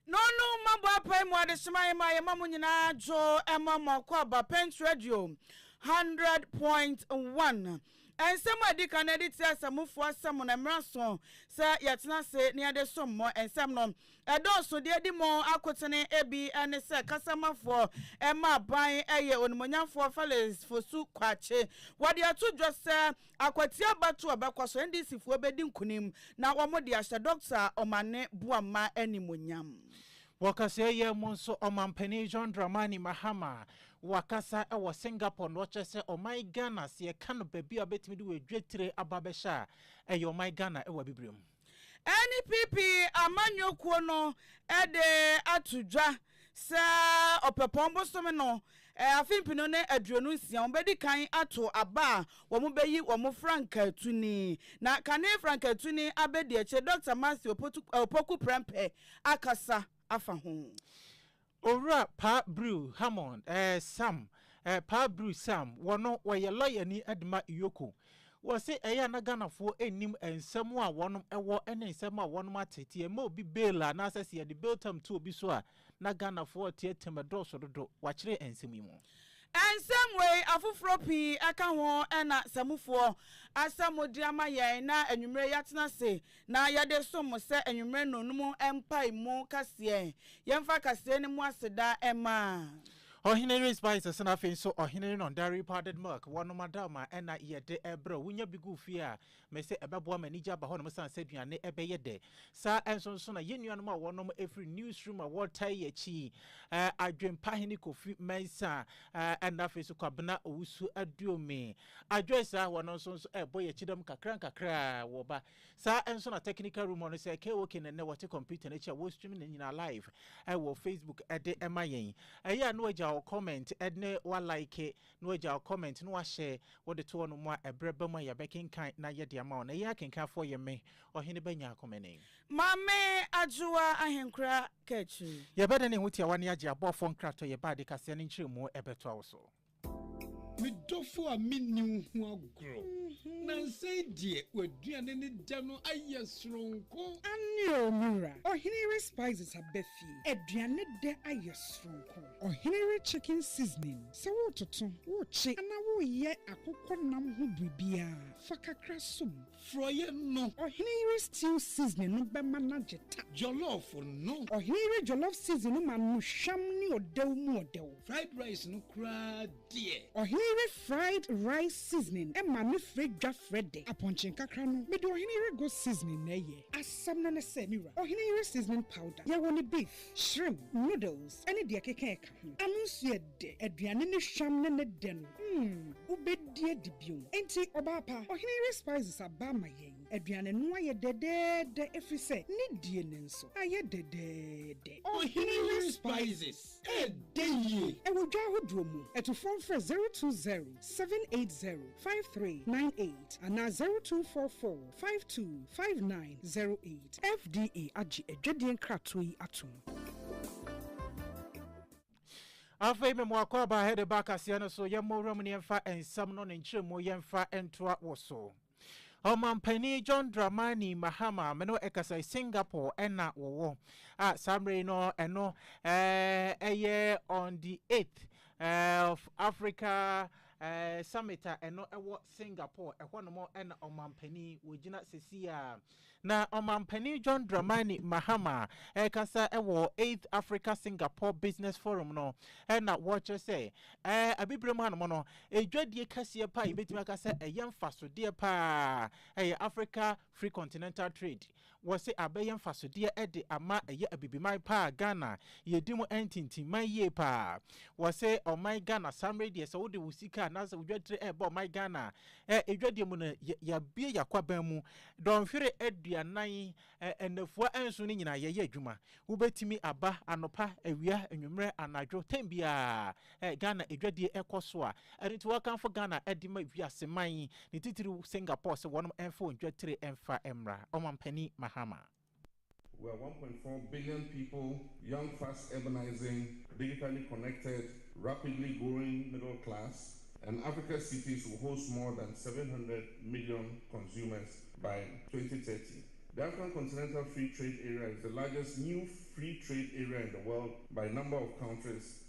na ɔno mmabɔ apae mu adesoma yɛ ma yɛma mo nyinaa dwo ɛma mo akɔ aba pent radio 100.1 nsɛm a ɛdi kan ɛde ti asamufoɔ asɛm no mmara so sɛ yɛtena ase na yɛde som mo nsɛm no Ɛdɔɔso deɛ edi mu akotene bi ne sɛ kasamafoɔ ma aban yɛ onimuonyamfoɔ Felix Fosu Kwakye. Wɔde ato dwa sɛ Akwati abatoɔ a ɛbɛkɔ so NDCfoɔ bɛdi nkunim na wɔde ahyɛ Dɔkta Omane Boamah animuonyam. Wɔ kaseɛ yɛ mu nso, Ɔmanpanin John Dramani Mahama wakasa wɔ Singapore na ɔkyerɛ sɛ ɔman Ghana sɛ yɛka no baabi a wobɛtumi de w'adwatire aba bɛhyɛ a, ɛyɛ ɔman Ghana wɔ Abibire mu. Ɛne PP amanyɔkuo no de ato dwa sɛ Ɔpɛpɔn bosome no afe mpenu ne aduonu nsia wɔbɛdi kan ato aba a wɔbɛyi wɔn frankaatuni. Na kane frankaatuni abɛdi akyire Dɔkta Matthew Opoku Prɛmpɛ akasa afa ho. Owura Pa Brew Hammond, eh, Sam, eh, Pa Brew Sam, wɔno wɔyɛ lɔyani de ma Iyoko. Wɔse ɛyɛ a na Ghanafoɔ nnim nsɛm a wɔnom wɔ ne nsɛm a wɔnom ate, nti yɛma obi bail a, anaasɛ sɛ yɛde bail term to obi so a, na Ghanafoɔ reteateam ɛdɔɔso dodo, wɔakyere nsɛm yi mu. Nsɛm wei afoforɔ pii ka ho na Samufoɔ asɛ mo de ama yɛn na anwummerɛ yi yɛatena ase na yɛde som mo sɛ anwummerɛ nnɔnnum mpaemu kaseɛ. Yɛmfa kaseɛ no mu aseda mma. Ɔhene Rhys bae sɛsɛ na afei nso Ɔhene Renon da repadded milk wɔ nom ada ma ɛna yɛde brɛ wo. Wonya bi gu fie a, mese ɛbɛboa ma anigye aba hɔnom sane sɛ aduane ɛbɛyɛ dɛ. Saa nso nso na yɛn nuanom a wɔnom firi Newsroom a wɔtaa yi akyi yi, Adwempahene Kofi Mensah, ɛna afei nso Kwabena Owusu-Aduomi, Adwoe saa hɔ no nso nso ɛbɔ yɛ kyidam kakra nkakra wɔ ba. Saa nso na technical room hɔ no sɛ KOK na nnɛ wɔte computer no akyi a wɔstream ne nyinaa live ɛwɔ Facebook ɛde ɛma yɛn. Ɛyɛ a na wagya wo comment ɛne wa like na wagya wo comment na wahyɛ wode to hɔ nom a ɛberɛ ba mu a yɛbɛkenkan na yɛde ama wo. Na yɛn akenkanfoɔ yɛ me, Ɔhene Ba Nyaakomene. Maame Adwoa Ahenkora Kakyiri. Yɛbɛdane ho tiawa ne agye abɔɔfoɔ nkratɔ yɛ ba ade kaseɛ no nkyerɛmu ɛbɛtoa wo so. Me dɔfo a minni wo ho agorɔ. Nnansa yi deɛ, w'aduane no dɛ no ayɛ soronko. Aane o, me wura. Ɔhene yere spices aba fie. Aduane dɛ ayɛ soronko. Ɔhene yere chicken seasoning. Sɛ woretoto, worekye anaa woreyɛ akokɔ nam ho biribiara, fa kakra som. Frɔeɛ no. Ɔhene yere stew seasoning no bɛma no agye ta. Jollof no. Ɔhene yere jollof seasoning no ma no hwam ne ɔdɛw mu ɔdɛw. Fried rice no koraa deɛ. Ɔhene yere fried rice seasoning ma no frɛ dwa frɛ dɛ. Apɔnkye nkakra no, mede ɔhene yere goat seasoning na ɛyɛ. Asɛm no ne sɛ, me wura, ɔhene yere seasoning powder, yɛwɔ no beef, shrimp, noodles ne deɛ ɛkeka ɛka. Ano nso yɛ dɛ, aduane ne hwam ne ne dɛ no, mm, wobɛdi adi bio. Enti, ɔbaa pa, Ɔhene Yere Spices aba ama yɛn. Aduane no ayɛ dɛdɛɛdɛ ɛfiri sɛ ne die no nso ayɛ dɛdɛɛdɛ. Ɔhene Yere Spices, ɛdɛ yie! Ɛwɔ dwa ahodoɔ mu. Atufoɔ mfrɛ zero two zero seven eight zero five three nine eight anaa zero two four four. Five two five nine zero eight. FDA agye adwadie nkratoɔ yi atom. afei me mmoakɔ aba hɛde ba kaseɛ no so yɛmmɔ wura mu ne yɛmfa nsɛm no ne nkyerɛmu yɛmfa ntoa wɔ so ɔmampanin john dramani mahama me no ɛkasa e singapore ɛna wɔwɔ a saa mmerɛ yi no ɛno ɛyɛ on the 8th eh, of africa Ɛɛ summit a ɛno ɛwɔ Singapore, ɛhɔ nom ɛna ɔmanpanin wɔgyina sɛsi a. Na ɔmanpanin John Dramani Mahama ɛrekasa ɛwɔ Eighth Africa Singapore Business Forum no ɛna wɔrekyerɛ sɛ ɛɛ abibire mu hanom no ɛdwadie kɛseɛ paa yɛbɛtumi aka sɛ ɛyɛ mfasodeɛ paa ɛyɛ Africa Free Continental Trade Wɔse abɛyɛ mfasodeɛ de ama ɛyɛ Abibiman paa Ghana yɛdi mu ntintimman yie paa. Wɔse ɔman Ghana saa mmerɛ yi deɛ sɛ wode wo sika anaasɛ wo dwadire ɛrebɔ ɔman Ghana a, dwadie mu no yɛabue yɛakwaban mu dɔnhwere aduanan, nnafua nson no nyinaa yɛyɛ adwuma. Wobɛtumi aba anɔpa, awia, anwummerɛ, anadwo, tɛm biara Ɛ Ghana adwadie ɛkɔ so a, ɛno nti wɔkamfo Ghana de ma wiase man yi, ne titiriw Singapore sɛ wɔnom mfa wɔn dwa tire mfa mmra. Ɔmampanin Mahama. We are one point four billion people, young fast urbanizing, digitally connected, rapidly growing middle class, and Africa's cities will host more than seven hundred million consumers by twenty thirty. The African Continental Free Trade Area is the largest new free trade area in the world by number of countries.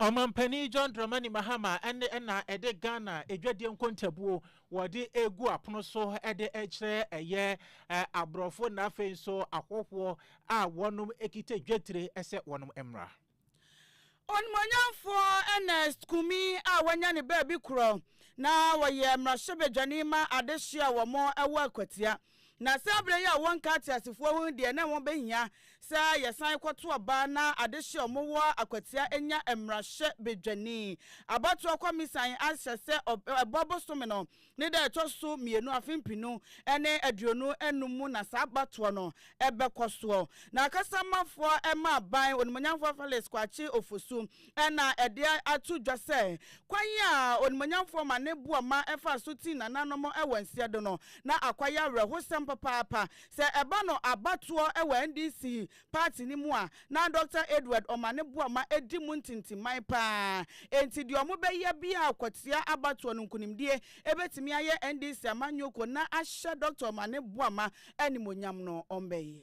Ɔmanpanin John Dramani Mahama ɛne ɛna ɛde Ghana adwadie nkontabuo wɔde egu apono so ɛde ɛkyerɛ ɛyɛ aborɔfo na afei nso ahɔhoɔ a wɔnom ekita dwetire ɛsɛ wɔnom mmra. Onimonyamfoɔ Ernest Kumi a wanya ne baabi korɔ na wɔyɛ mmarahyɛbadwani ma adehye a wɔn ɛwɔ Akwatia Na saa berɛ yi a wɔnka ateasefoɔ ho deɛ na ɛho bɛhia sɛ yɛsan kɔto aba na adehye a wɔwɔ Akwatia nya mmarahyɛ badwani. Abatoɔ kɔmisan ahyɛ sɛ ɛbɔ bosome no ne da a ɛtɔ so mmienu afe mpenu ne aduonu nnum mu na saa abatoɔ no bɛkɔ soɔ. Na Akasamafoɔ mma aban Onimuonyamfoɔ Felix Kwakye Ofosu Ɛnna ɛde ato dwa sɛ kwan a Onimuonyamfoɔ ma ne boɔ ma ɛfaa so tii nananom wɔ nsiado no, na akwa yɛ awerɛhosɛm papaapa. Sɛ ɛba no abatoɔ wɔ NDC paati no mu a, na Dɔkta Edward Omah ne boɔ ma ɛdi mu ntintiman pa ara. Enti deɛ wɔbɛyɛ biara kwatia abatoɔ no nkunimdie bɛtumi ayɛ NDC amanyɔkuo na ahyɛ Dɔkta Omah ne boɔ ma animuonyam no wɔbɛyɛ.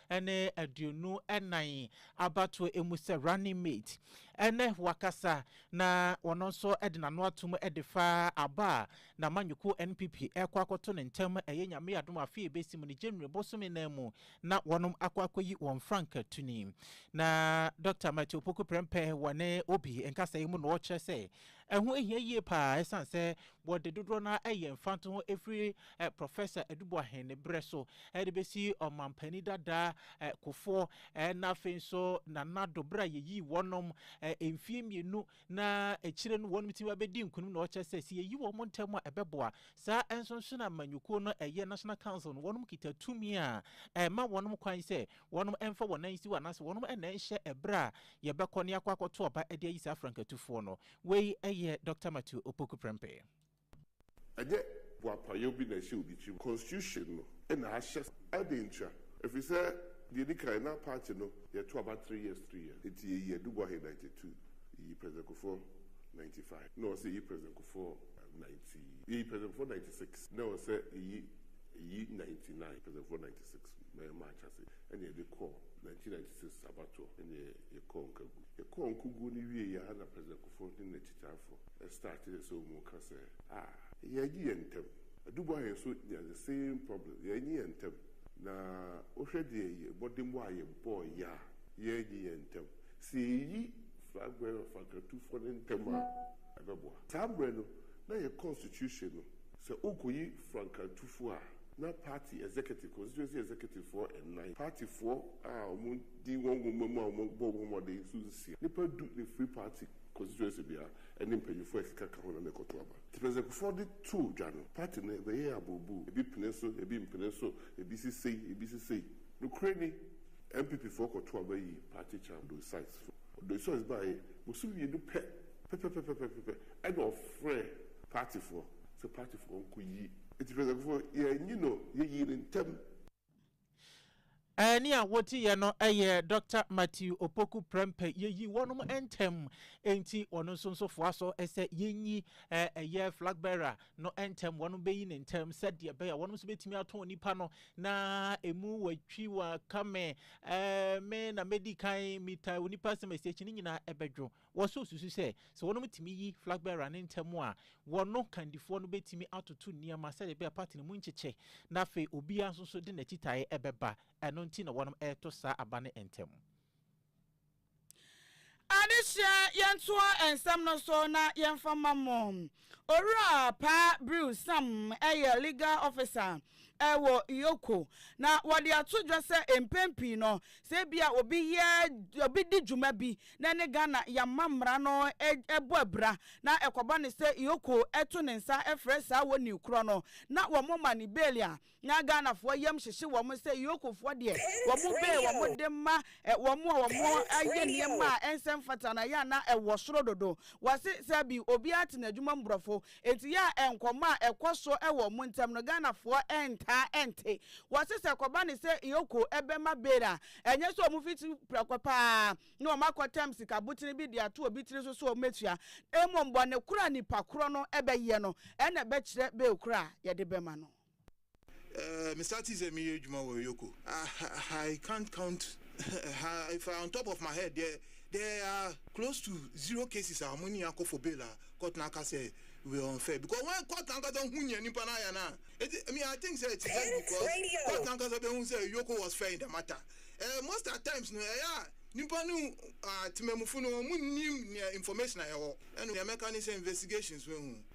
ne aduonu nan abatoɔ mu sɛ running mate. Ɛnnɛ wakasa na ɔno nso de n'ano atom de fa aba a n'amanyɔkuo NPP rekɔ akɔto ne ntam ɛyɛ Nyame adom a afei ɛbɛsi mu no January bosome nan mu na wɔnom akɔ akɔyi wɔn frankatuni. Na Dɔkta Matthew Opoku Prempeh wɔ ne Obi nkasɛɛ mu na ɔkyerɛ sɛ Ɛho hia yie pa ara ɛsiane sɛ wɔde dodoɔ no ara yɛ mfantoho firi Professor Adu Boahen ne berɛ so de bɛsi Ɔmampanin dada Kufuor na afei nso Nana Addo berɛ a yɛyii wɔnom mfeɛ mmienu na akyire no wɔnom tumi ba bɛdi nkunim na wɔkyerɛ sɛ sɛ yɛyi wɔn ntɛm a ɛbɛboa. Saa nso nso na Amanyɔkuo no ɛyɛ National Council no wɔnom kita tumi a ɛma wɔnom kwan sɛ Wɔnom mmfa wɔn nan nsiw anaase wɔnom nnan nhyɛ ɛberɛ a yɛbɛkɔ na yɛakɔ akɔto aba de ayi saa frankatufoɔ no. Wei yɛ Dɔkta Matthew Opoku Prempeh. Ɛnyɛ boapayɔ bi na ɛhyɛ obi tirim. Constitution no na ahyɛ saa. Adɛn ntia? Ɛfiri sɛ, deɛ ɛdi kan, na party no yɛto aba three years three years. Nti yɛyii Adu Boahye ninety two, yɛyii President Kufuor ninety five, na ɛwɔ sɛ yɛyi President Kufuor ninety, yɛyi President Kufuor ninety six, na ɛwɔ sɛ yɛyi ɛyi ninety nine, President Kufuor ninety six. Mɛyɛ March ase na yɛde kɔɔ nineteen ninety six abatoɔ na yɛkɔɔ nkagu. Yɛkɔɔ nkuguo no wieeɛ ara na President Kufuor ne n'akyitaafo startee sɛ wɔn reka sɛ, Ah, yɛagye yɛn ntam. Adu Boahe nso nyaa the same problem, yɛannye yɛn ntam. Na wohwɛ deɛ yɛn mmɔdemmɔ a yɛbɔeɛ a yɛannye yɛn ntam, sɛ yɛyi Flag Bearer Fankrantufoɔ no ntɛm a, ɛbɛboa. Saa mmerɛ no, na yɛn constitution no Sɛ worekoyi frankantufo a, na party executive, constituency executive foɔ nnan, party foɔ a wɔdi wɔn nwoma mu a wɔbɔ ho mmɔden nso nsia, nnipa du na ɛfiri party constituency biara ne mpanyinfoɔ a ɛkeka ka ho na na ɛkɔto aba. Nti Presecfoɔ de too dwa no, party no ɛbɛyɛɛ aburuburu, ebi pene so, ebi mpene so, ebi si sei, ebi si sei. Nokorɛ ni, NPP foɔ kɔtoo aba yii party chair Odoi Sykes. Odoi Sykes baeɛ, bosom mmienu pɛ pɛpɛpɛpɛpɛpɛ ɛna ɔfrɛɛ. Party foɔ sɛ party foɔ nko yi nti president kufuor yɛ nyi no yɛ yii no ntɛm. Ɛɛne a woti yɛ no ɛyɛ Doctor Matthew Opoku Prempeh yɛ yii wɔnom ntɛm nti wɔno nso nso foa so sɛ yɛ nyi ɛyɛ flag bearer no ntɛm wɔnom bɛ yi no ntɛm sɛ deɛ bɛyɛ wɔnom nso bɛtumi atɔn nipa no na emu wɔ twi wɔ kame ɛɛ me na mɛ di kan mita wɔ nipa sɛ mɛ sɛ akyi ne nyinaa ɛbɛ dwo. Wɔsan susu sɛ, sɛ wɔtumi yi flag bearer no ntɛm a, wɔn kandifoɔ no bɛtumi atoto nneɛma sɛdeɛ ɛbɛyɛ a party no mu nkyekyɛ, na afei obiara nso so de n'akyitaeɛ bɛba. Ɛno nti na wɔreto saa aba no ntɛm. Adesua, Yɛntoa nsɛm no so na yɛmfa mma mo. Owura Pa Brew Sam yɛ Legal Officer wɔ Iyoko, na wɔde ato dwa sɛ mpɛn pii no, sɛ ebia obi yɛ obi di dwuma bi na ɛne Ghana yɛmma mmara no bɔ abira na ɛkɔba no sɛ Iyoko to ne nsa frɛ saa wɔnni korɔ no na wɔma no bale a, na Ghanafoɔ yam hyehye wɔn sɛ Yokofoɔ deɛ wɔn bee wɔn de ma wɔn a wɔn ayɛ nneɛma a ɛnsɛ mfata na yɛ a na ɛwɔ soro dodo. Wɔse sɛ bi obiara te n'adwuma mu borɔfo nti yɛ a nkɔmmɔ a ɛkɔ so wɔ wɔn ntam no Ghanafoɔ ntaa nte. Wɔse sɛ ɛkɔba ne sɛ Yoko bɛma bail a ɛnyɛ sɛ wɔn fiti prɛko pa ara na wɔn akɔtɛm sika botene bi de ato obi tiri so sɛ wɔn bɛtua na mmom bɔne koro a nipa koro no bɛyɛ no na ɛbɛkyerɛ bail koro a yɛde bɛma no. Eh, me startee sɛ meyɛ adwuma wɔ Yoko. Ah, I can't count, if I on top of my head deɛ, there are close to zero cases a wɔne yɛn akɔ for bail a court no aka sɛ we were unfair because when court no ankasa hu nea nipa no ayɛ no a, enti me I think sɛ it is just because court no ankasa bɛhu sɛ Yoko was fair in the matter. Eh, most at times no, ɛyɛ a nipa no, ah, temamufo no, wɔn nnim nea information a ɛwɔ. Ɛno deɛ mɛka ne sɛ investigations bɛhu.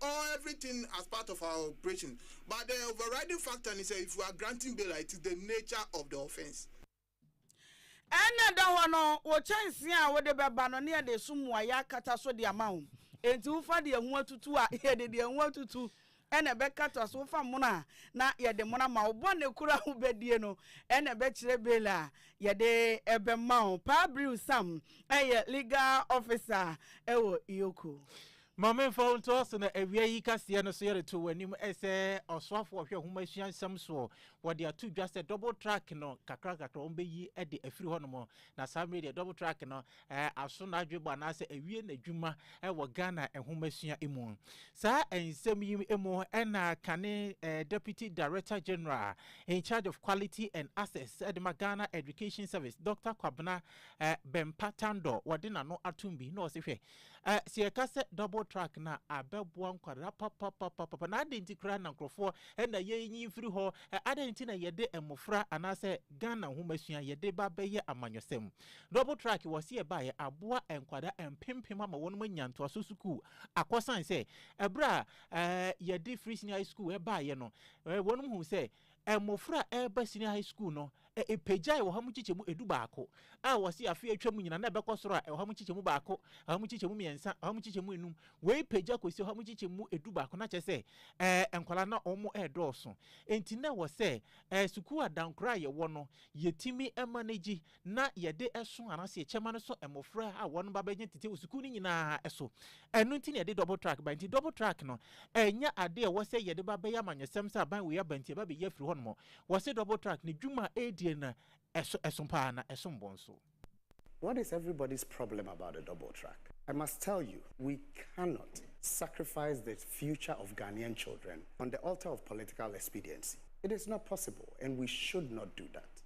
or everything as part of our operation but the overriding factor ne sɛ if you are granting bail a it is the nature of the offence. Ɛna ɛda hɔ no wo kyɛnsee a wode bɛba no ne yɛde so mmuaeɛ akata so de ama wo enti wofa deɛ ho atutu a yɛde deɛ ho atutu ɛna ɛbɛkata so wofa mono a na yɛde mono ama wo bɔne koro a wobɛdie no ɛna ɛbɛkyerɛ bail a yɛde ɛbɛma wo Paa Briw Sam ɛyɛ legal officer ɛwɔ Iyoko. Ma memfa wo nto ase na awia yi kaseɛ no so yɛde to w'anim sɛ ɔsoafoɔ ɔhwɛ nwoma asua nsɛm soɔ. Wɔde ato dwa sɛ double track no kakra kakra wɔn bɛyi de afiri hɔnom. Na saa mmerɛ deɛ double track no aso n'adwebɔ anaasɛ awie n'adwuma wɔ Ghana nwoma sua mu. Saa nsɛm yi mu ɛna kane Deputy Director General in charge of Quality and Access de ma Ghana Education Service Dr. Kwabena Bempa Tandor wɔde n'ano atom bi na ɔse hwɛ Eh, sɛ yɛka sɛ double track no a, abɛboa nkwadaa papapapapa. Na adɛn nti koraa na nkurɔfoɔ na yɛnyi mfiri hɔ? Eh, adɛn nti na yɛde mmofra anaasɛ Ghana nhomasua yɛde ba bɛyɛ amanyɔsɛm? Double track wɔ se ɛbaeɛ aboa nkwadaa mpempem ama wɔn anya ntoaso sukuu akɔ sane sɛ ɛberɛ a eh, yɛde Frisni High School ɛbaeɛ no, eh, wɔn hu sɛ Mmofra a ɛreba senior high school no, ɛpagyae ɔha mu nkyekyɛmu edu baako, a wɔse afe a atwam nyinaa na ɛbɛkɔ soro a ɔha mu nkyekyɛmu baako, ɔha mu nkyekyɛmu mmiɛnsa, ɔha mu nkyekyɛmu enum. Wei pagya kɔsi ɔha mu nkyekyɛmu edu baako na kyerɛ sɛ ɛɛ nkwadaa na wɔn redɔɔso. Enti na ɛwɔ sɛ ɛɛ sukuu adankora a yɛwɔ no, yɛtumi manage na yɛde so anaasɛ yɛkyɛ ma no so mmofra a wɔn ba bɛgyina tete wɔ sukuu no nyinaa so. Ɛno nti na yɛde double track ba. Nti double track no, ɛnyɛ ade a ɛwɔ sɛ yɛde ba bɛyɛ amanyɔsɛm sɛ aban wei aba nti ɛba bɛyi afiri hɔnom. Wɔse double track no, dwuma a ɛredie no ɛso ɛso paa na ɛsom bo nso. What is everybody's problem about the double track? I must tell you, we cannot sacrifice the future of Ghanaian children on the altar of political expediency. It is not possible and we should not do that.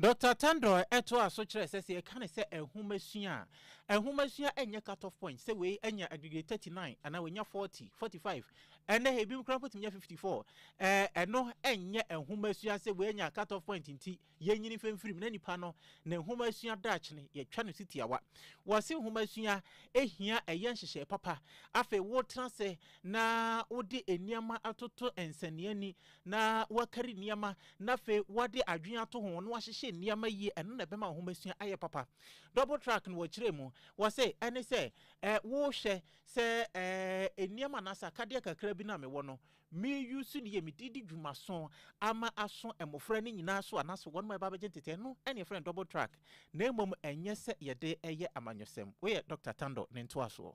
Dɔkta Tandor toaa so kyerɛɛ sɛ, sɛ yɛka no sɛ nhomasua a, nhomasua nyɛ cut-off point sɛ wei anya adegree 39 anaa wanya 40, 45, ɛnnɛ ebinom koraa mpo tumi nya 54. Ɛno nyɛ nhomasua sɛ wei anya cut-off point nti yɛnyi no mfimfiri mu na nipa no ne nhomasua dakyene yɛtwa no si tiawa. Wɔse nhomasua hia ɛyɛ nhyehyɛe papa, afei wotena ase na wode nneɛma atoto nsɛnneani na wɔakari nneɛma, na afei wɔde adwene ato ho na wɔahyehyɛ nneɛma yie, ɛno na ɛbɛma nhomasua ayɛ papa. Double track no wɔkyerɛ mu, wɔse ɛne sɛ eh, wohwɛ sɛ eh, nneɛma anaa sɛ akadeɛ kakra bi no a mewɔ no, meyu so ne yie, mede di dwuma so ama aso mmɔfra no nyinaa so anaasɛ wɔn ma ɛba bɛgye ntete, ɛno ɛne yɛfrɛ no double track, na mmom ɛnyɛ sɛ yɛde ɛyɛ amanyɔsɛm. Wei yɛ Dɔkta Tando ne ntoasoɔ.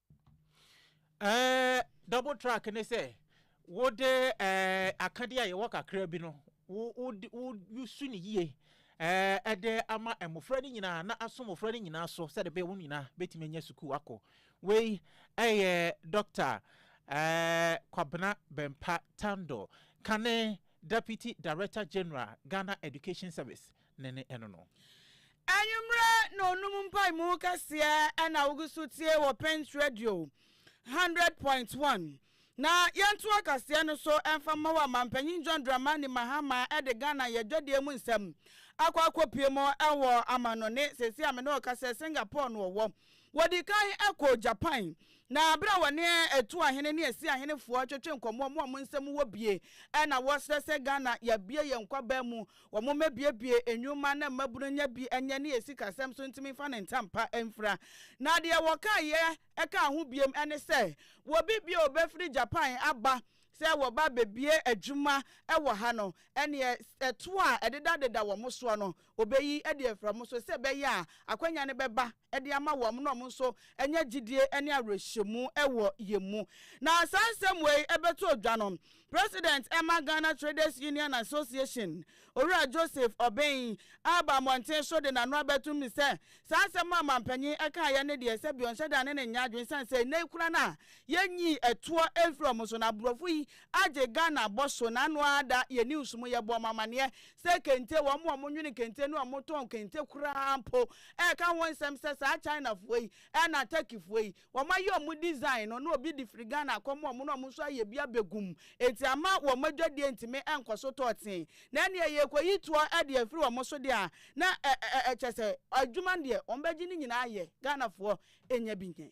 Eh, double track ne sɛ wode eh, akadeɛ a yɛwɔ kakra bi no wosu ne yie eh, ɛde ama mmɔfra no nyinaa na aso mmɔfra no nyinaa so sɛde bɛyɛ wɔn nyinaa bɛtumi anya sukuu akɔ wei ɛyɛ dɔkta eh, kwabena bɛmpa tando kane deputy director general ghana education service ne ne ɛno no. Anwummerɛ na ɔnum mpaemu kɛseɛ ɛna wogu so tie wɔ Prince Radio hundred point one. Na yɛnto akaseɛ no so ɛmfa mma wo Amanpanyin John Dramani Mahama ɛde Ghana yɛ dwadeɛ mu nsɛm akɔ akɔpie mu ɛwɔ amannɔne. Seesei a me ne wo kasa yi Singapore na ɔwɔ. Wɔdii kan kɔɔ Japan, na bere a wɔne Atua Ahene ne Asia Ahenefoɔ twetwe nkɔmmɔ, mo a mo nsam wɔ bie, ɛna wɔsrɛ sɛ Ghana yɛabue yɛn nkwaban mu, wɔmmɛbuebue nnwuma na mmabunu nnya bi nyɛ ne yɛn sikasɛm so ntumi mfa ne ntampa mfira. Na deɛ wɔkaeɛ kaa ho biom ne sɛ wɔbi bio bɛfiri Japan aba sɛ wɔba bɛbue adwuma wɔ ha no, ɛneɛ toɔ a ɛdedadeda wɔn soɔ no Obeyi adi afra mo so sɛ ɛbɛyɛ a akwanya no bɛba de ama wɔn na wɔn nso anya gyidie ne awerɛhyɛmu wɔ yɛn mu. Na saa nsɛm wei bɛto dwa no, President ɛma Ghana Traders Union Association, Owura Joseph Obeng aba mmɔnten so de n'ano abɛto mu sɛ saa nsɛm a Ɔmanpanyin kaeɛ no deɛ sɛbi ɔnhyɛ da ne no nyɛ adwene ɛsiane sɛ nnɛ yi koraa no a yɛnyii ɛtoɔ mfiri wɔn so na aborɔfo yi agye Ghana bɔ so na ano ara da yɛn news mu yɛbɔ wɔn amaneɛ sɛ kente, wɔn a wɔnwene kente ne wɔtɔn kente koraa mpo reka ho nsɛm sɛ saa Chinafoɔ yi ɛna Turkeyfoɔ yi wɔayɛ wɔn design no na obi de firi Ghana akɔ ma wɔn na wɔn nso ayɛ bi abɛgu mu enti ama wɔn adwadie ntumi nkɔ so tɔ tee na ɛneɛ yɛkɔyi toɔ de afiri wɔn so deɛ a na ɛkyɛ sɛ adwuma deɛ wɔbɛgye ne nyinaa yɛ Ghanafoɔ nya bi nyɛ.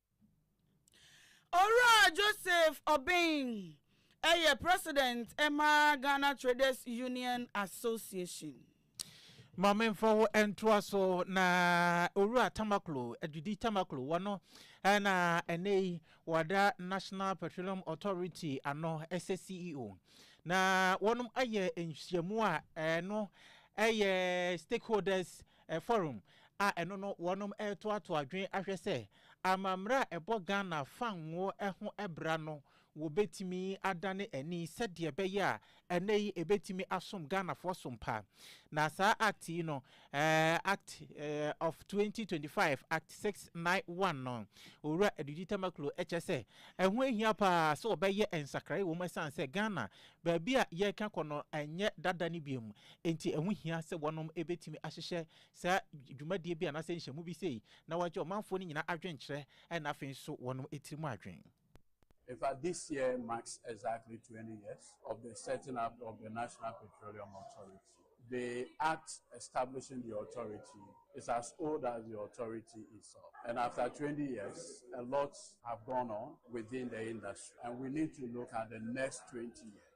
Owura Joseph Obeng yɛ President ma Ghana Traders Union Association. Ma me nfa wo ntoa so na Owura Tamaklo, Adwidi Tamaklo, wɔno na ɛnɛ yi wɔada National Petroleum Authority ano ɛsɛ CEO. Na wɔnom ayɛ nhyiamu a ɛno ɛyɛ stakeholders Forum, a ɛno no wɔnom retoatoa adwene ahwɛ sɛ amamerɛ a ɛbɔ Ghana fa ngo ho bra no wɔbɛtumi adane ani sɛdeɛ ɛbɛyɛ a ɛnnɛ yi ɛbɛtumi asom Ghanafoɔ so mpa. Na saa Act yi no, Act of 2025, Act 691 no, Owura Adudi Tamaklo kyerɛ sɛ ɛho ahia pa ara sɛ wɔbɛyɛ nsakraeɛ wɔ mu ɛsiane sɛ Ghana baabi a yɛreka kɔ no ɛnyɛ dada no biom Enti ɛho hia sɛ wɔnom betumi ahyehyɛ saa dwumadie bi anaasɛ nhyɛmu bi sei na wɔagye ɔmanfoɔ no nyinaa adwenkyerɛ na afei nso wɔnom tirim adwen. In fact, this year marks exactly twenty years of the setting up of the National Petroleum Authority. The Act establishing the authority is as old as the authority itself. And after twenty years, a lot have gone on within the industry. And we need to look at the next twenty years.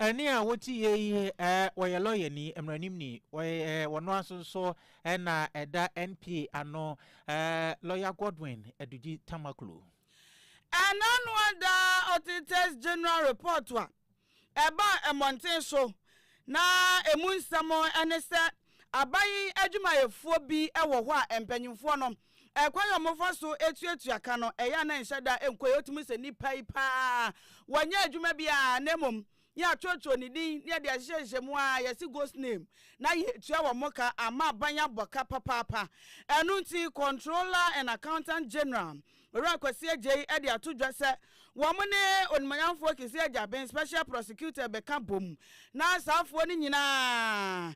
Ɛne a wɔte yie yi, ɛɛ wɔyɛ lɔyani, mmaranimni, wɔyɛ ɛɛ wɔn nso nso ɛna ɛda NPA ano, ɛɛ lɔya Godwin Adugyi Tamaklo. Ɛna no ada Auditors General Report a ɛbaa mmɔnten so na ɛmu nsɛm ne sɛ aban adwumayɛfoɔ bi wɔ hɔ a mpanyimfoɔ no Ɛkwan a wɔfa so tuatua ka no, ɛyɛ a na ɛnhyɛ da nkɔ yie. Wotumi sɛ nnipa yi paa wɔnyɛ adwuma biara na mmom yɛatwerɛtwerɛ ne din na yɛde ahyehyɛhyehyɛ mu ara yɛse ghost name na yɛtua wɔn ka ama aban abɔ ka papaapa. Ɛno nti Controller and Accountant General Owura Kwasi Agyei de ato dwa sɛ wɔn ne Onimuonyamfoɔ Kissi Agyabin Special Prosecutor rebɛka bom na asaafoɔ no nyinaa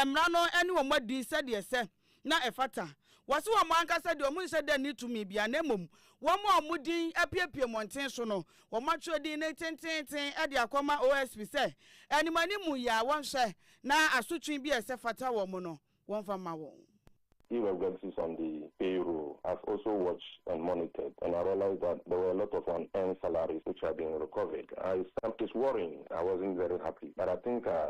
mmara no ne wɔn adi sɛdeɛ ɛsɛ. na ɛfata. Wɔse wɔn ankasa deɛ wɔnhyɛ da nni tumi biara, na mmom wɔn a wɔn din apuepue mmɔnten so no, wɔatwerɛ din no tenteenten de akɔma OSP sɛ animuanimu yi ara wɔnhwɛ na asotwe bi a ɛsɛ fata wɔn no, wɔmfa mma wɔn. Irregularities on the payroll has also watched and monitored and I realized that there were a lot of unearned salaries which are being recovered. I, it was worrying, I wasn't very happy but I think I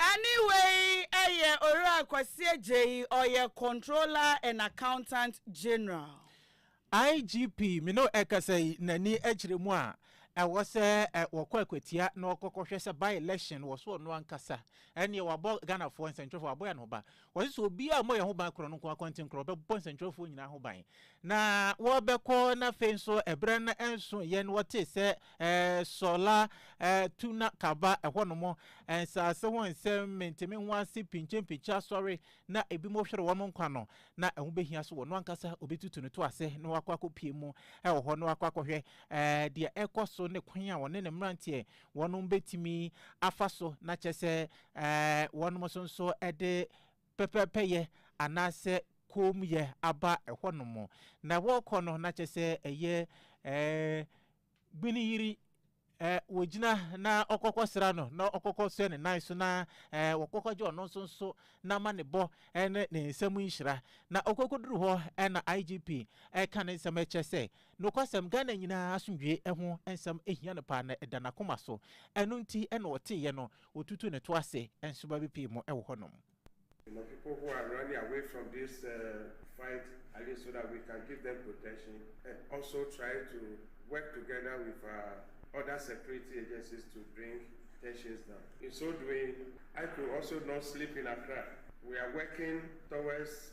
Ɛne wei yɛ Owura Kwasi Agyei, ɔyɛ Controller and Accountant General. IGP Mino ɛkasa yi n'ani kyerɛ mu a ɛwɔ sɛ wɔkɔ akwatia na wɔkɔkɔhwɛ sɛ by-election wɔ so ɔno ankasa ɛneɛ wabɔ Ghanafoɔ nsɛntwerɛfoɔ wabɔ yɛn ho ban Wɔse sɛ obiara mmɔ yɛn ho ban korɔ no nko ara, kwantinkorɔ, ɔbɛbɔ nsɛntwerɛfoɔ nyinaa ho ban. Na wɔbɛkɔ na afei nso ɛberɛ no nso yɛn wɔtee sɛ ɛɛ Sɔla ɛɛ tu na kaba ɛhɔ nom nsaase ho nsɛm menteme ho ase pinkyenpinkye asɔre na ebinom hwere wɔn nkwa no na ɛho bɛhia so ɔno ankasa ɔbɛtutu ne to ase na wakɔ akɔpie mu ɛwɔ hɔ na wakɔ akɔhwɛ ɛɛ deɛ ɛkɔ so ne kwan a ɔne ne mmeranteɛ wɔnom bɛtumi afa so na kyɛ sɛ wɔnom so nso de pɛpɛpɛyɛ anaasɛ koomyɛ aba hɔnom. Na wɔkɔ no na kyɛ sɛ ɛyɛ Gbeniyiri wɔgyina na ɔkɔkɔ sra no na ɔkɔkɔ sɛ ne nan so na wɔkɔkɔ gye ɔno nso nso na ma ne bɔ ne ne nsɛm nhyira. Na ɔkɔkɔduru hɔ na IGP ɛka ne nsɛm ɛkyɛ sɛ Nokwasɛm, Ghana nyinaa asomdwoe ho nsɛm hia no paa na ɛda n'akoma so. Ɛno nti na ɔteeɛ no, ɔtutuu ne to ase. Nsoromma bi pii mu wɔ hɔnom. You know people who are running away from this fight at least so that we can give them protection and also try to work together with our other security agencies to bring tensions down. In so doing, I could also not sleep in Accra. We are working towards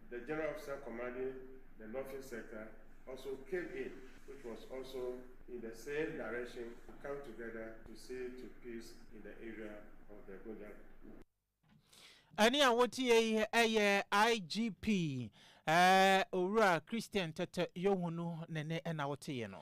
The General Officer Commanding the Northern Sector also came in which was also in the same direction to come together to see to peace in the area of the Gonja. Ɛne a wotie yi ɛyɛ IGP eh, Owura Christian Tete Yohunu ne ne ɛna woteeɛ no.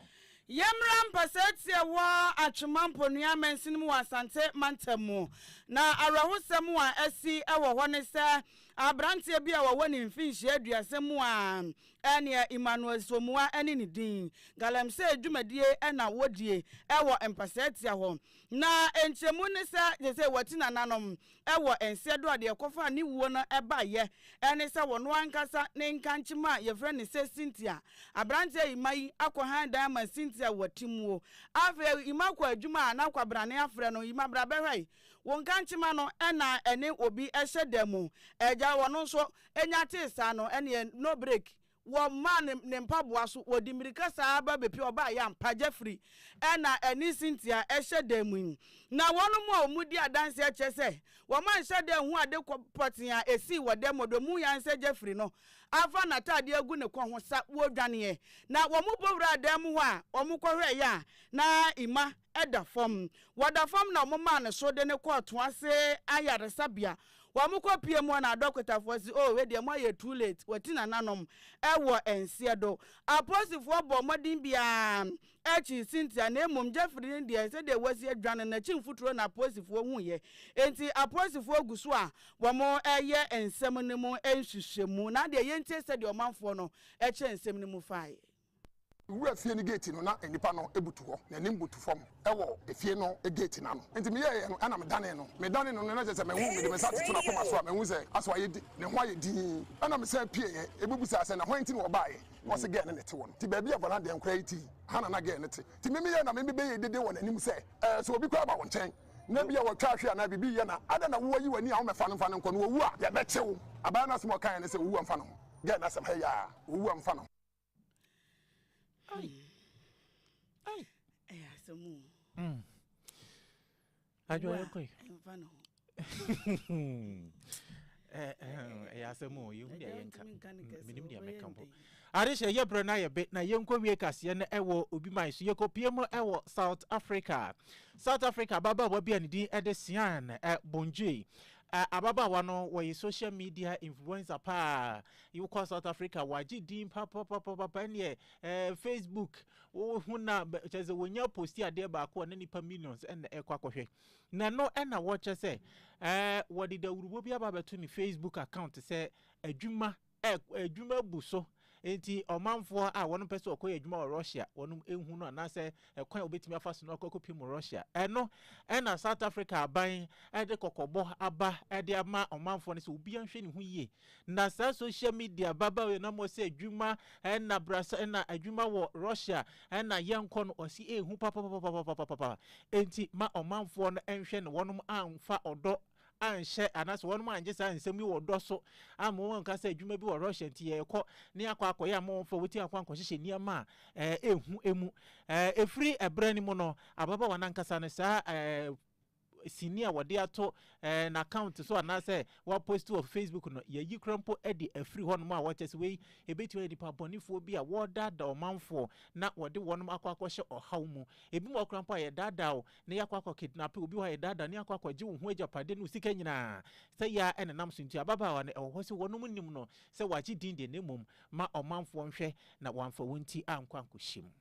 Yɛmmra mpasɛɛ teɛ wɔ Atwema Mponua Mansin mu wɔ Asante Mantam mu. Na awerɛhosɛm a asi wɔ hɔ ne sɛ aberanteɛ bi a ɔwɔ ne mfinhyia aduasa mu a ɛneɛ Emmanuel Somoa ne ne din. Galamsey dwumadie na wɔdie wɔ Mpasaatia hɔ. Na nkyerɛmu ne sɛ gyesɛ wɔte nananom wɔ nseɛ do a deɛ ɛkɔfaa ne wuo no baeɛ ne sɛ ɔno ankasa ne nkankyema a yɛfrɛ no sɛ Cynthia. Aberanteɛ Emma yi akɔ hann dan ma Cynthia wɔ Timuo. Afei Emma kɔ adwuma a na kwabrane afrɛ no, Emma bra bɛhwɛ Wo nkankyema no na ɛne obi hyɛ da mu agya wɔno nso nya tee saa no ɛneɛ no break wɔ mmaa ne ne mpaboa so wɔdi mmirika saa ba bepie ɔbaa yɛ ampa Jeffrey ɛna ɛne Cynthia hyɛ da mu yi na wɔn mu a wɔn di adanseɛ kyerɛ sɛ wɔn anhyɛ da anhu ade kɔ pɔtee a ɛsii wɔ da mu wɔn mu yan sɛ Jeffrey no afa n'ataadeɛ agu ne kɔn ho sa wɔdwaneɛ na wɔn bɔ wuraa dan mu hɔ a wɔn kɔhwɛɛyɛ a na Emma da fam. Wɔ da fam na wɔmaa no so de no kɔɔ Toase Ayaresabea. Wɔ wɔkɔpuee mu hɔ na dɔkotafoɔ se, Oh, wei deɛ moayɛ too late, wati nananom wɔ nseɛ do. Apolisifoɔ bɔɔ mmɔden biara kyee Cynthia na mmom Jeffrey no deɛ sɛdeɛ wasi adwane no n'akyi mfuturo na apolisifoɔ huiɛ. Enti apolisifoɔ gu so a wɔreyɛ nsɛm no mu nhwehwɛmu. Na adeɛ yɛntie sɛdeɛ ɔmanfoɔ no kyerɛ nsɛm no mu faeɛ. Mewuraa fie no geeti no, na nnipa no butu hɔ, n'anim butu fam wɔ efie no geeti no ano. Enti meyɛɛ yɛn no na medanee no. Medanee no no, na kyerɛ sɛ mahu. Mede me nsa toto n'akoma so a, mahu sɛ asɔ ayɛ di, ne ho ayɛ dinn. Ɛnna mesan pieeɛ. Mebisaa sɛ, Na hwan nti na wɔbaeɛ? Na ɔse, Gɛɛ no na ɛte hɔ no. Ti baabi a Vana deɛ nkoraa yi te yi, ha na na gɛɛ no te. Ti me meyɛɛ na me bɛyɛɛ dede wɔ n'anim sɛ, Ɛɛ, sɛ obi koraa ba wo nkyɛn, na ebia wɔatwa ahwe anaa biribi reyɛ na adɛn na woayi w'ani a wommɛfa no mfa no nkɔ no? Owu a, yɛbɛkye wo. Abaa no asɛm a ɔkaeɛ ne sɛ, Owu a mfa ne ho. Gɛɛ no asɛm, hɛ yaa, Owu a mfa ne ho. ɛyɛ asɛm o hmm. adwoayɛ kɔe ɛmfa ne ho eh, eh, ɛyɛ asɛm o yɛhu deɛ yɛnka menim deɛ mɛka mpo ade hyɛ yɛ berɛ no ayɛ be na yɛnkɔwie kaseɛ no ɛwɔ obi man so yɛkɔpie mu ɛwɔ south africa south africa ababaawa bi a ne din ɛde sian eh, bongye ababaawa no wɔyɛ social media influencer paa Wo kɔ South Africa wagye din papapapapa ɛneɛ ɛɛ eh, Facebook wo ho na kyɛ sɛ wɔnya posti adeɛ baako a na nipa millions ɛna ɛkɔ akɔhwɛ na no ɛna wɔkyɛ sɛ ɛɛ eh, wɔde dawurubo bi aba abɛto ne Facebook account sɛ adwuma ɛ adwuma bu so nti ɔmanfoɔ a wɔn pɛ sɛ ɔkɔyɛ adwuma wɔ Russia wɔn ehu no anaasɛ ɛkwan a wɔbɛtumi afa so no akɔ akɔpem wɔ Russia ɛno ɛna South Africa aban ɛde kɔkɔbɔ aba ɛde ama ɔmanfoɔ no sɛ obiara nhwɛ ne ho yie Na saa social media ababaawa yi nam ɔsɛ adwuma ɛna brasa ɛna adwuma wɔ Russia ɛna yɛnkɔ no ɔsi ehu papapapapapapapa enti ma ɔmanfoɔ no nhwɛ no wɔnom anfa ɔdɔ anhyɛ anaasɛ wɔnom angye saa nsɛm yi wɔ dɔ so ama wɔn nka sɛ adwuma bi wɔ Russia nti yɛrekɔ ne akɔ akɔyɛ ama wɔn fɔ wɔti akɔ ankɔhyehyɛ nneɛma a ɛɛ ehu emu ɛɛ efiri ɛbrɛ no mu no ababaawa nankasa no saa ɛɛ sini a wɔde ato eh, n'account so anaasɛ wɔapost wɔ facebook no yɛyi kora mpo de afiri hɔnom a wɔkyɛ sɛ wei ɛbɛtumi ayɛ nipa bɔnefoɔ bi a wɔredaadaa ɔmanfoɔ na wɔde wɔnom akɔ akɔhyɛ ɔhaw mu ebi mu ɔkora mpo a yɛdaadaa o na yɛakɔ akɔ kidnape obi hɔ a yɛdaadaa ne akɔ akɔgye wo ho agyapadeɛ ne wo sika nyinaa sɛ yɛa ɛne nam so nti ababaawa no ɛwɔ hɔ sɛ wɔnom nim no sɛ wɔagye din deɛ na mmom ma ɔmanfoɔ nhwɛ na wɔamfa wɔn ti ankɔ ankɔhyɛ mu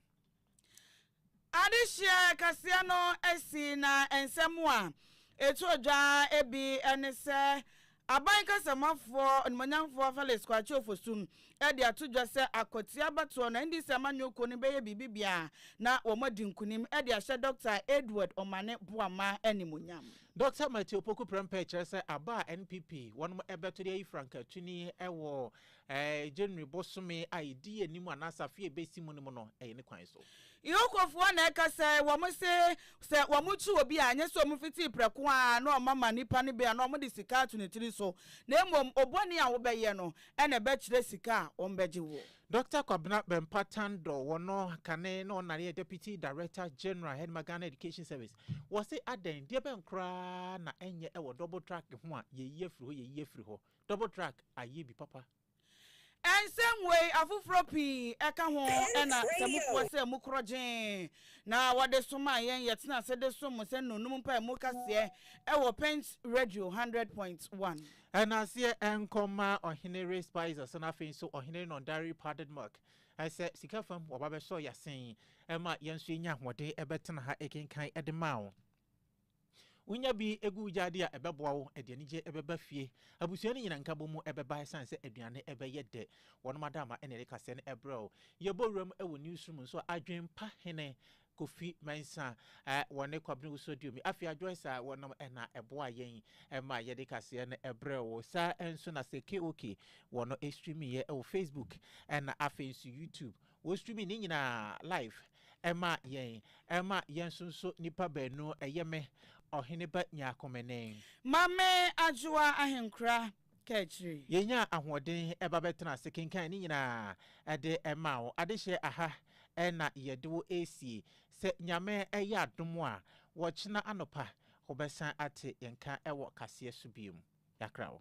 Adesua kɛseɛ no asi na nsɛm a ɛtɔ dwa bi ne sɛ Aban kasamuafoɔ onimuonyamfoɔ Felix Kwakye Ofosu de ato dwa sɛ akwatia abatoɔ no NDC amanyɔ kuo no bɛyɛ biribi bia na wɔn adi nkunim de ahyɛ Dɔkta Edward Omane Boamah animuonyam. Dɔkta Matthew Opoku Prempeh kyerɛ sɛ aba a NPP wɔnom bɛto de ayi Frank Atwini wɔ January bosome a ɛdi anim anaasɛ afe a ɛbɛsi mu no mu no, ɛyɛ ne kwan so. Ihokofoɔ na ɛka sɛ, wɔn se, sɛ wɔkye obi a, ɛnyɛ sɛ wɔfiti prɛko ara na wɔma nipa no bi anaa wɔde sika ato ne tiri so, na mmom obɔne a wobɛyɛ no na ɛbɛkyerɛ sika a wɔbɛgye wo. Dɔkta Kwabena Bempah Tandor, wɔno kane na ɔnare yɛ Deputy Director General Hedma Ghana Education Service, wɔse adɛn, deɛ bɛn koraa na ɛnyɛ ɛwɔ double track ho a, yɛyi afiri hɔ, yɛyi afiri hɔ. Double track ayɛ bi papa. Nsɛm wei afoforɔ pii ka ho na sɛ mofoa sɛ mo korɔ gyee na wɔde somaa yɛn yɛtena ase de som mo sɛ nnuonom mpae mu kaseɛ wɔ Pent Radio hundred point one. Nnaseɛ nkɔ mma Ɔhene Ray Spicer sɛ na afei nso Ɔhene Nondari Padedmuk sɛ sika fam wɔba bɛsɔ yɛ asen ma yɛn nso yɛnya ahoɔden bɛtena ha kenkan de ma wo. Wonya bi gu gya di a, ɛbɛboa wo. Ɛde anigye bɛba fie. Abusua no nyinaa nkabom mu bɛba esiane sɛ aduane bɛyɛ dɛ. Wɔnom adaama na ɛde kaseɛ no brɛ wo. Yɛbɔ wuram wɔ Newsroom nso a, Adwempa hene Kofi Mensah wɔ ne Kwabena Owusu Aduomi Afia Joyce a wɔnom na ɛboaa yɛn ma yɛde kaseɛ no brɛɛ wo. Saa ara nso na Seke Oke wɔ no streamiiɛ wɔ Facebook ɛna afei nso YouTube. Wosumi ne nyinaa live ɛma yɛn ɛma yɛn nso nso nipa baanu ɛyɛ me ɔhene ba nyaakome ne. Mame adwoa ahenkora kaakyire. Yɛnyaa ahoɔden ɛba bɛtena ase kenkan ne nyinaa ɛde ɛmaa wo adehyeɛ aha ɛna yɛde wo ɛresie sɛ nyame ɛyɛ adom a wɔkyena anɔpa wobɛsan ate yɛn nka ɛwɔ kaseɛ so biom. Yɛakra wo.